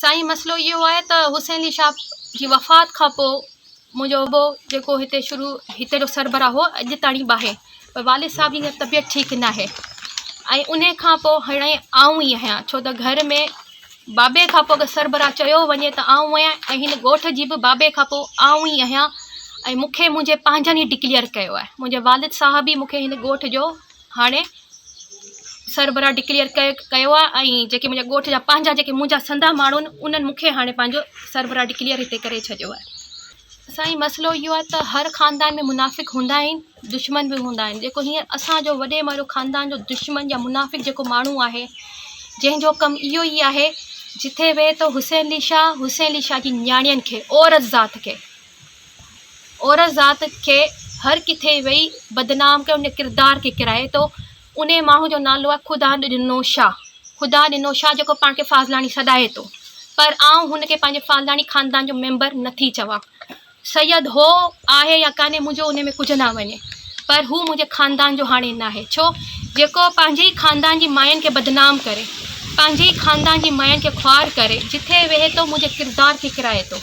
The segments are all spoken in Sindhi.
سائين مسئلو اهو آهي ته حسين علي شاهه جي وفات کان پوء منهنجو ابو جيڪو هتي شروع هتي جو سربراهه هو اڄ تائين به آهي پر والد صاحب جي طبيعت ٺيڪ نه آهي ۽ ان کان پوء هاڻي آئون ئي آهيان ڇو ته گهر ۾ بابي کان پوء اگر سربراهه چيو وڃي ته آئون آهيان ۽ هن ڳوٺ جي به بابي کان پوء آئون ئي آهيان ۽ مون کي منهنجي پنهنجن ئي ڊڪليئر ڪيو آهي منهنجي والد صاحب ئي مون کي هن ڳوٺ جو هاڻي سربراهه ڊڪليئر ڪيو آهي ۽ جيڪي منهنجا ڳوٺ جا پنهنجا جيڪي منهنجا سندا ماڻهو آهن انهن مون کي هاڻي پنهنجو سربراهه ڊڪليئر هتي ڪري ڇڏيو آهي سائين مسئلو اهو آهي ته هر خاندان ۾ منافق هوندا آهن دشمن به هوندا آهن جيڪو هينئر اسانجو وڏي مارو خاندان جو دشمن يا منافق جيڪو ماڻهو آهي جنهن جو ڪم اهو ئي آهي جتي ويهي ته حسين علي شاهه حسين علي شاهه جي نياڻين کي عورت ذات کي عورت ذات کي هر ڪٿي ويئي بدنام ڪيو ان ڪردار کي ڪرائي تو انهي ماڻهو جو نالو آهي خدا ڏنو شاهه خدا ڏنو شاهه جيڪو پاڻ کي فاضلاڻي سڏائي تو پر آئون هن کي پنهنجي فاضلاڻي خاندان جو ميمبر نٿي چوان سيد هو آهي يا ڪانهي منهنجو ان ۾ ڪجهه نه وڃي پر هو منهنجي خاندان جو هاڻي ناهي ڇو جيڪو پنهنجي ئي خاندان جي ماين کي بدنام ڪري پنهنجي ئي خاندان جي ماين کي خوار ڪري جتي ويهي تو منهنجي ڪردار کي ڪرائي تو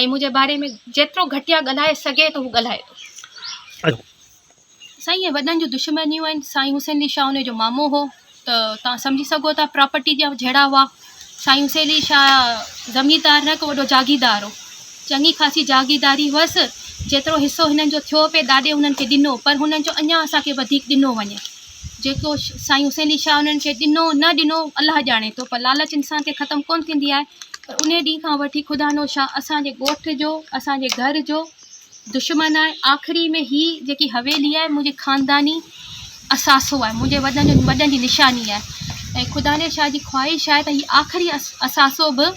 ۽ منهنجي باري ۾ جيترو گهٽيا ڳالهائي سگهي ٿو هو ڳالهائي ٿو. اچ. سائين اهي وڏن جون دشمنيون آهن سائين حسين علي شاهه انهي جو مامو هو ته توهان سمجهي سگهو ٿا پراپرٽي جا جهيڙا هئا سائين حسين علي شاهه زميندار نه هڪ وڏو جاگيردار هو چڱي خاصي جاگيرداري هئس جيترو حصو هنن جو ٿيو پئي ڏاڏي هنن کي ڏنو پر هنن چيو اڃان اسان کي وڌيڪ ڏنو وڃي جيڪو سائين حسين علي شاهه انهن کي ڏنو نه ڏنو الله ڄاڻي ٿو پر لالچ انسان کي ختم ڪونه ٿيندي آهي پر ان ڏينهن کان وٺي خدا نو شاهه اسان جي ڳوٺ جو اسان جي گهر جو دشمن آهي آخري ۾ هي جيڪي حويلي آهي منهنجي خانداني اثاثو آهي منهنجي وڏن جو وڏن جي نشاني آهي ۽ خدا نو شاهه جي خواهش آهي ته هي آخري اثاثو به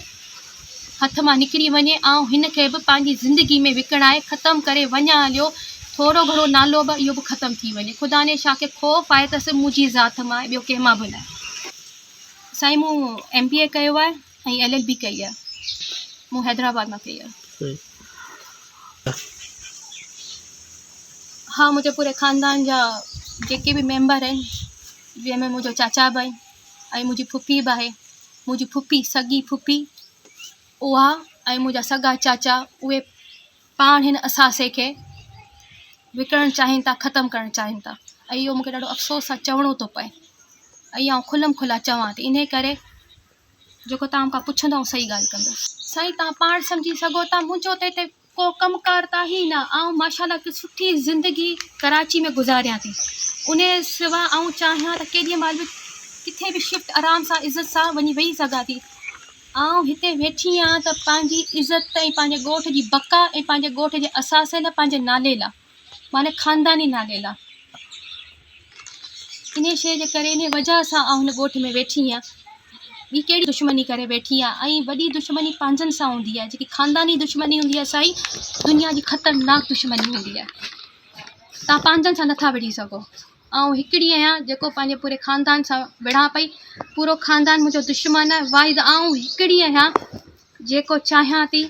هٿ مان نڪري وڃي آئون هن کي به پنهنجي زندگي ۾ وڪڻائي ختم ڪري وڃان هليو ٿورو گهڻو نالو به اهو به ختم ٿي وڃي خداني شاهه کي خوف آهي ته صرف منهنجي ذات مان آهي ٻيو ڪنهن مان به نه سائين مون ايم بي اي ڪيو آهي ۽ ايل ايل بي ڪئي آهي مون حيدرآباد مان ڪئي آهي ها منهنجي پوري خاندان جا جيڪي به ميمبر آهن جنهن ۾ منهنجو چاچا به آهن ۽ منهنجي ڦڦي به آهي منهنجي ڦڦي، سڳي ڦڦي، اها ۽ منهنجا سڳا چاچا اهي پاڻ هن اثاثي کي وڪڻڻ چاهين ٿا، ختم ڪرڻ چاهين ٿا ۽ اهو مون کي ڏاڍو افسوس سان چوڻو ٿو پئي ۽ آئون کلم کلا چوان ٿي انهي ڪري جيڪو تهان مون کان پڇندو آئون صحيح ڳالهه ڪندس. سائين تهان پاڻ سمجهي سگهو ٿا منهنجو ته هتي ڪو ڪم ڪار ته آهي ئي نه، آئون ماشاءالله هڪ سٺي زندگي ڪراچي ۾ گذاريان ٿي، انهيء سوا آئون چاهيان ته ڪيڏيء مهل به ڪٿي به شفٽ آرام سان عزت سان وڃي ويهي سگهان ٿي، آئون هتي ويٺي آهيان ته پنهنجي عزت ۽ پنهنجي ڳوٺ جي بقا ۽ پنهنجي ڳوٺ جي اثاثي لاء پنهنجي نالي لاء. معنيٰ خانداني نالي لا. انهيء شيء جي ڪري، انهيء وجهه سان آئون هن ڳوٺ ۾ ويٺي هيان. ٻي ڪهڙي دشمني ڪري ويٺي هيان؟ ۽ وڏي دشمني پنهنجن سان هوندي آهي. جيڪي خانداني دشمني هوندي آهي، سائين، دنيا جي خطرناڪ دشمني هوندي آهي. توهان پنهنجن سان نٿا وڙهي سگهو. آئون هڪڙي آهيان، جيڪو پنهنجي پوري خاندان سان وڙهان پئي. پورو خاندان منهنجو دشمن آهي. واحد آئون هڪڙي آهيان، جيڪو چاهيان ٿي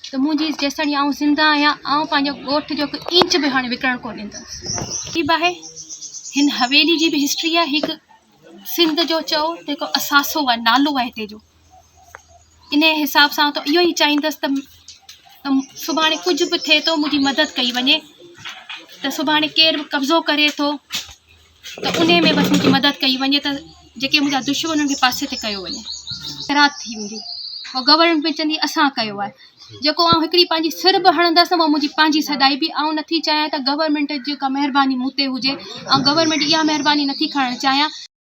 ته منهنجي جيستائين آئون زنده آهيان، آئون پنهنجو ڳوٺ جو هڪ انچ به هاڻي وڪڻڻ ڪو ڏيندس. عجيب آهي هن حويلي جي به هسٽري آهي هڪ سنڌ جو چئو ته هڪ اثاثو آهي نالو آهي هتي جو انهي حساب سان ته اهو ئي چاهيندس ته سڀاڻي ڪجهه به ٿئي ٿو منهنجي مدد ڪئي وڃي ته سڀاڻي ڪير به قبضو ڪري ٿو ته انهي ۾ بس منهنجي مدد ڪئي وڃي ته جيڪي منهنجا دشمن انهن کي پاسي تي ڪيو وڃي. خيرات ٿي ويندي. پوء گورنمينٽ به چوندي اسان ڪيو آهي. جيڪو آئون هڪڙي پنهنجي سر به هڻندس نه اها منهنجي پنهنجي سڏائي به آئون نه ٿي چاهيان ته گورنمينٽ جي ڪا مهرباني مون تي هجي. آئون گورنمينٽ جي اها مهرباني نه ٿي کڻڻ چاهيان.